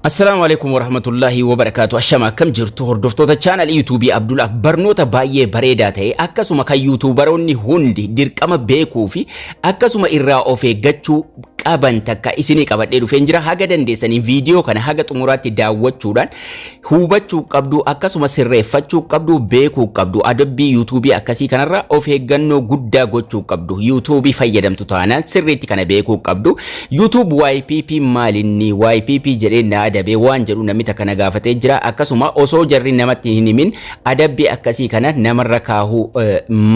Assalaamu alaikum warahmatullaahi wabarakaatu ashama akkam jirtu hordoftoota chaanal yuutuubii Abdul Ak barnoota baay'ee bareedaa ta'e akkasuma kan yuutuubaroonni hundi dirqama beekuu fi akkasuma irraa of eeggachuu qaban takka isinii qabadhee dhufeen jira haga dandeessaniin viidiyoo kana haga xumuraatti daawwachuudhaan hubachuu qabdu akkasuma sirreeffachuu qabdu beekuu qabdu adabbii yuutuubii akkasii kanarra of eeggannoo guddaa gochuu qabdu yuutuubii fayyadamtu taanaan sirriitti kana beekuu qabdu YouTube ypp maali inni ypp jedhee na adabee waan jedhu namni takka na gaafatee jira akkasuma osoo jarri namatti hin himin adabbii akkasii kana namarra kaahuu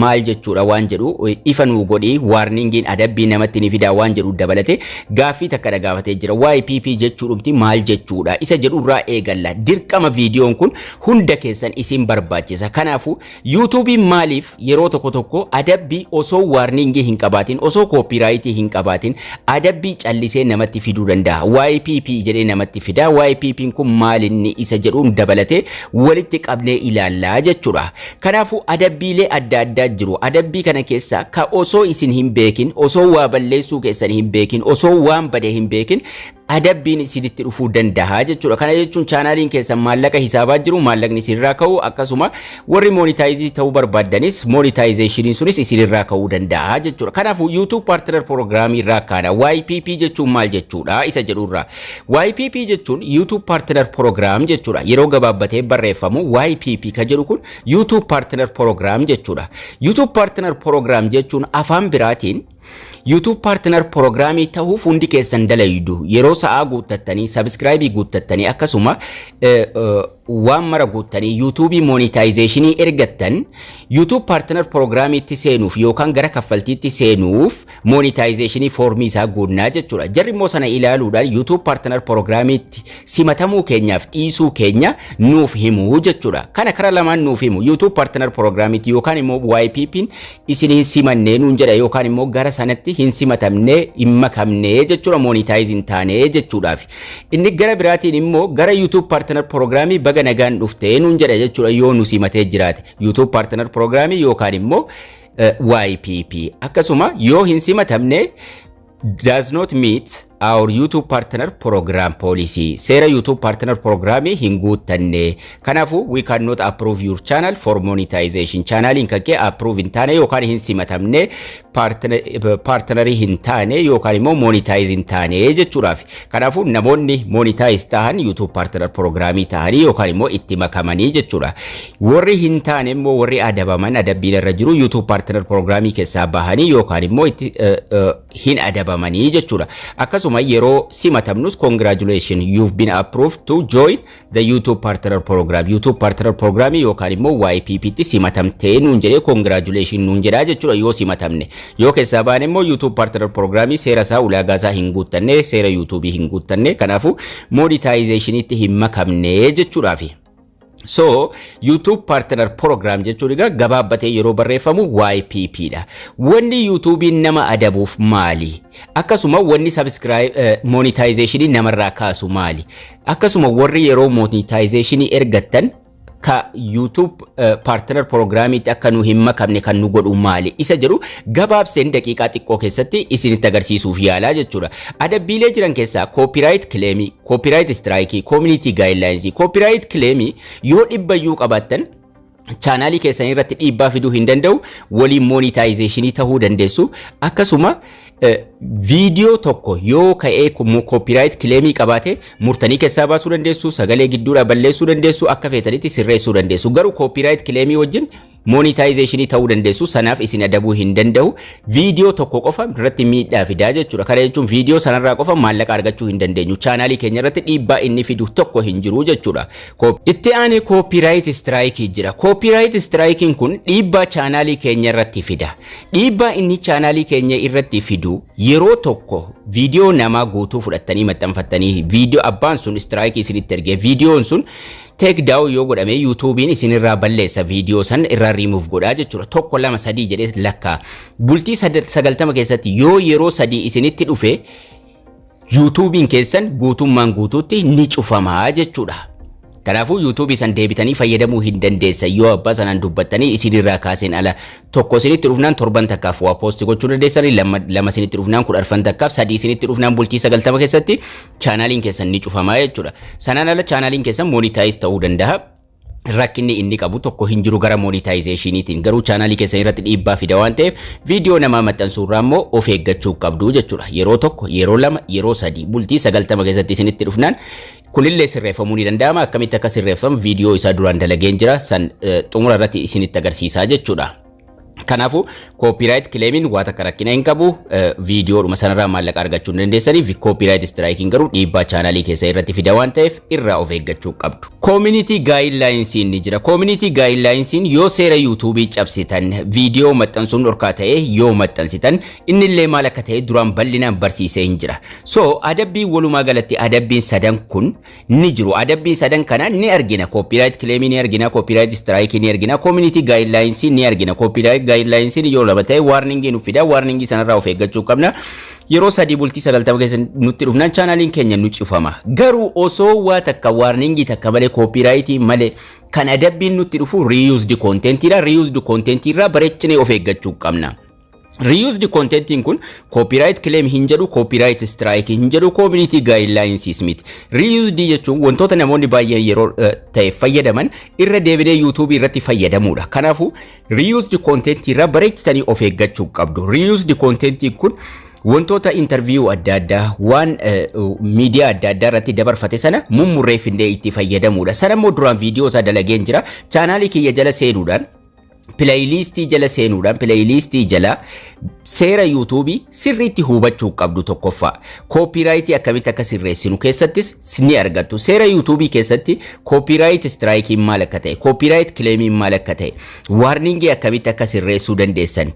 maal jechuudha waan jedhu ifa nuu godhi waarningiin adabbii namatti ni fidaa waan jedhu dabalate gaaffii takka na gaafatee jira ypp jechuudhumti maal jechuudha isa jedhurraa eegalla dirqama viidiyoon kun hunda keessan isin barbaachisa kanaafuu Yuutuubiin maaliif yeroo tokko tokko adabbii osoo waarniingii hin qabaatin, osoo kooppiiraayitii hin qabaatin adabbii callisee namatti fiduu danda'a? YPP jedhee namatti fida. YPPn kun maalinni isa jedhuun dabalatee walitti qabnee ilaallaa jechuudha. Kanaafuu adabbiilee adda addaa jiru. Adabbii kana keessaa ka osoo isin hin beekin, osoo waa balleessuu keessan hin beekin, osoo waan bade hin beekin adabbiin isinitti dhufuu danda'a jechuudha. Kana jechuun chaanaaliin keessan maallaqa hisaabaa jiru maallaqni isinirraa ka'u akkasuma warri moonitaayizii ta'uu barbaaddanis moonitaayizeeshiniin sunis isinirraa ka'uu danda'a jechuudha. Kanaafuu YouTube Partner Program irraa kaana YPP jechuun maal jechuudha isa jedhurraa. YPP jechuun YouTube Partner Program jechuudha. Yeroo gabaabbatee barreeffamu YPP ka jedhu kun YouTube Partner Program jechuudha. YouTube Partner Program jechuun afaan biraatiin YouTube Partner Program ta'uuf hundi keessan dalaydu yeroo sa'aa guuttattanii subscribe guuttattanii akkasuma waan mara guuttanii YouTube monetization ergattan YouTube Partner Program itti seenuuf yookaan gara kaffaltiitti seenuuf monetization foormii isaa guunnaa jechuudha. Jarri immoo sana ilaaluudhaan YouTube Partner Program itti simatamuu keenyaaf dhiisuu keenya nuuf himu jechuudha. Kana kara lamaan nuuf himu YouTube Partner Program itti yookaan immoo YPP'n isin hin simanne nuun jedha yookaan immoo gara sanatti hin simatamne hin makamne jechuudha moonitaayiz hin taane jechuudhaaf. Inni gara biraatiin immoo gara YouTube Partner Prograamii baga nagaan dhufte nuun jedha jechuudha yoo nu simatee jiraate. YouTube Partner Prograamii yookaan immoo YPP. Akkasuma yoo hin simatamne does not meet our YouTube partner program policy. Seera YouTube partner programii hin guuttanne. Kanaafuu we cannot approve your channel for monetization. Chaanaaliin kan kee approve hin taane yookaan hin simatamne partnerii hin taane yookaan immoo monetize hin taane jechuudhaaf. Kanaafuu namoonni monetize tahan YouTube partner programii tahanii yookaan immoo itti makamanii jechuudha. Warri hin taane immoo warri adabaman adabbiin irra jiru YouTube Partner Prograamii keessaa bahanii yookaan immoo itti eh, eh, hin adabamanii jechuudha. Akkasuma yeroo simatamnus congratulations you've been approved to join the YouTube Partner Program. YouTube Partner Program yookaan immoo YPP tti simatamtee nuun jedhee congratulations nuun jedhaa jechuudha yoo simatamne. Yoo keessaa baane immoo YouTube Partner Program seera isaa ulaagaa isaa hin guuttanne seera YouTube hin guuttanne kanaafuu monetization itti hin makamne jechuudhaafi. So YouTube Partner Program jechuun egaa gabaabbatee yeroo barreeffamu YPP dha. Wanni YouTube'n nama adabuuf maali? Akkasuma wanni subscribe eh, monetization namarraa kaasu maali? Akkasuma warri yeroo monetization ergattan ka YouTube eh, Partner Programmiitti akka nu hin makamne kan nu godhu maali? Isa jedhu gabaabseen daqiiqaa xiqqoo keessatti isinitti agarsiisuuf yaalaa jechuudha. Adabbiilee jiran keessaa copyright claim Koopiraayit istiraayikii, koominiitii gaayidlaayinsii, koopiraayit kileemii yoo dhibba iyyuu qabaattan chaanaalii keessan irratti dhiibbaa fiduu hin danda'u. Waliin moonitaayizeeshinii ta'uu dandeessu. Akkasuma viidiyoo tokko yoo ka'ee koopiraayit kileemii qabaate murtanii keessaa baasuu dandeessu, sagalee gidduudhaa balleessuu dandeessu, akka feetanitti sirreessuu dandeessu. Garuu koopiraayit kileemii wajjin Monetization ta'uu dandeessu sanaaf isin adabuu hin danda'u. Viidiyoo tokko qofa irratti miidhaa fidaa jechuudha. Kana jechuun viidiyoo sanarraa qofa maallaqa argachuu hin dandeenyu. Chaanaalii keenya irratti dhiibbaa inni fidu tokko hin jiru jechuudha. Itti aanee koopiraayit istiraayikii jira. Koopiraayit istiraayikiin kun dhiibbaa chaanaalii keenya irratti fida. Dhiibbaa inni chaanaalii keenya irratti fidu yeroo tokko viidiyoo namaa guutuu fudhattanii maxxanfattanii viidiyoo abbaan sun istiraayikii isinitti ergee viidiyoon sun Take down yoo godhame yuutuubiin isin irraa balleessa viidiyoo san irraa remove godhaa jechuudha. Tokko lama sadii jedhee lakkaa. Bultii sad- sagaltama keessatti yoo yeroo sadii isinitti dhufe yuutuubiin keessan guutummaan guutuutti ni cufamaa jechuudha. Kanaafuu yuutuubii san deebitanii fayyadamuu hin dandeessan yoo abbaa sanaan dubbattanii isin irraa kaaseen ala tokko isinitti dhufnaan torban takkaaf waa poosti gochuu dandeessanii lama lama isinitti dhufnaan kudharfan takkaaf sadii isinitti dhufnaan bultii sagaltama keessatti chaanaaliin keessan ni cufama jechuudha. Sanaan ala chaanaaliin keessan monitaayiz ta'uu danda'a. rakkinni inni qabu tokko hin jiru gara monitaayizeeshiniitiin garuu chaanaalii keessan irratti dhiibbaa fida waan ta'eef viidiyoo namaa maxxansuu irraa immoo of eeggachuu qabdu jechuudha yeroo tokko yeroo lama yeroo sadii bultii sagaltama keessatti isinitti dhufnaan kunillee sirreeffamuu ni danda'ama akkamitti akka sirreeffamu viidiyoo isaa duraan dalageen jira san xumura irratti isinitti agarsiisaa jechuudha. Kanaafuu kooppiiraayit kileemiin waa takka rakkina hin qabu viidiyoodhuma sanarraa maallaqa argachuu hin dandeessanii kooppiiraayit istiraayikiin garuu dhiibbaa chaanaalii keessa irratti fida waan ta'eef irraa of eeggachuu qabdu. Koominitii gaayinlaayinsiin ni jira. Koominitii gaayinlaayinsiin yoo seera yuutuubii cabsitan viidiyoo maxxansuun dhorkaa ta'e yoo maxxansitan innillee maal akka ta'e duraan bal'inaan barsiisee hin jira. So adabbiin walumaa galatti adabbiin sadan kun ni jiru. Adabbii sadan kana ni argina. Copyright claim ni argina, copyright strike ni argina, community guidelines ni argina. Copyright guidelines yoo lama ta'e warning nu fida, warning sanarraa of eeggachuu qabna. Yeroo sadii bultii sagaltama keessa nutti dhufnaan chaanaaliin keenya nu cufama. Garuu osoo waa takka warning takka malee copyright malee kan adabbiin nutti dhufu reused content dha. Reused content irraa bareechinee of eeggachuu qabna. Reused contentiin kun copyright claim hin jedhu, copyright strike hin jedhu, community guidelines miti. Reused jechuun wantoota namoonni baay'een yeroo eh, ta'e fayyadaman irra deebinee YouTube irratti fayyadamuudha. Kanaafuu reused content irra bareechitanii of eeggachuu qabdu. Reused contentiin kun wantoota interview adda addaa waan eh, miidiyaa adda addaa irratti dabarfate sana mummurreeffindee itti fayyadamuudha. Sana immoo duraan viidiyoo isaa dalageen jira. Chaanaalii kiyya jala seenuudhaan pileeyiliistii jala seenuudhaan pileeyiliistii jala seera yuutuubii sirriitti hubachuu qabdu tokkoffaa koopiiraayitii akkamitti akka sirreessinu keessattis ni argattu seera yuutuubii keessatti koopiiraayit istiraayikiin maal akka ta'e koopiiraayit kileemiin maal akka ta'e waarningii akkamitti akka sirreessuu dandeessan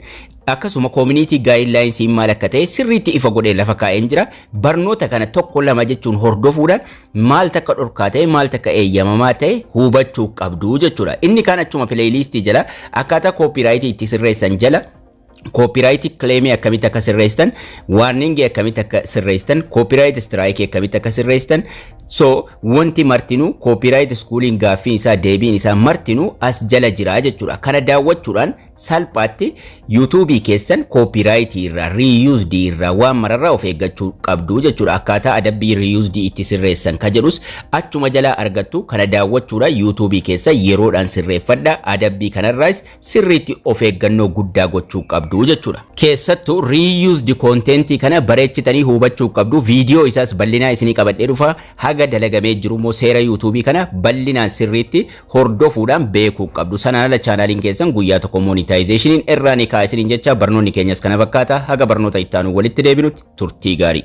akkasuma koominiitii gaayidlaayinsiin maal akka ta'e sirriitti ifa godhee lafa kaa'een jira barnoota kana tokko lama jechuun hordofuudhaan maaltu akka dhorkaa ta'e maaltu akka eeyyamamaa ta'e hubachuu qabdu jechuudha. Inni kaan achuma pileeyiliistii jala akkaataa kooppiiraayitii itti sirreessan jala kooppiiraayitii kileemii akkamitti akka sirreessitan, waarningii akkamitti akka sirreessitan, kooppiiraayit istiraayikii akkamitti akka sirreessitan, so wanti martinuu kooppiiraayit iskuuliin gaaffiin isaa deebiin isaa martinuu as jala jira jechuudha. Kana daawwachuudhaan Salphaatti YouTube keessan copyright irraa, reused irraa, waan mararraa of eeggachuu qabdu jechuudha. Akkaataa adabbii reused itti sirreessan ka jedhus achuma jalaa argattu kana daawwachuudhaan YouTube keessa yeroodhaan sirreeffadha. Adabbii kanarraas sirriitti of eeggannoo guddaa gochuu qabdu jechuudha. Keessattuu reused content kana bareechitanii hubachuu qabdu. Viidiyoo isaas bal'inaa isinii qabadhee dhufa. Haga dalagamee jiru immoo seera YouTube kana bal'inaan sirriitti hordofuudhaan beekuu qabdu. Sanaan ala chaanaaliin keessan guyyaa tokko moonitaayizeeshiniin irraa ni ka'a isiniin jecha barnoonni keenyas kana fakkaata haga barnoota itti aanu walitti deebinutti turtii gaarii.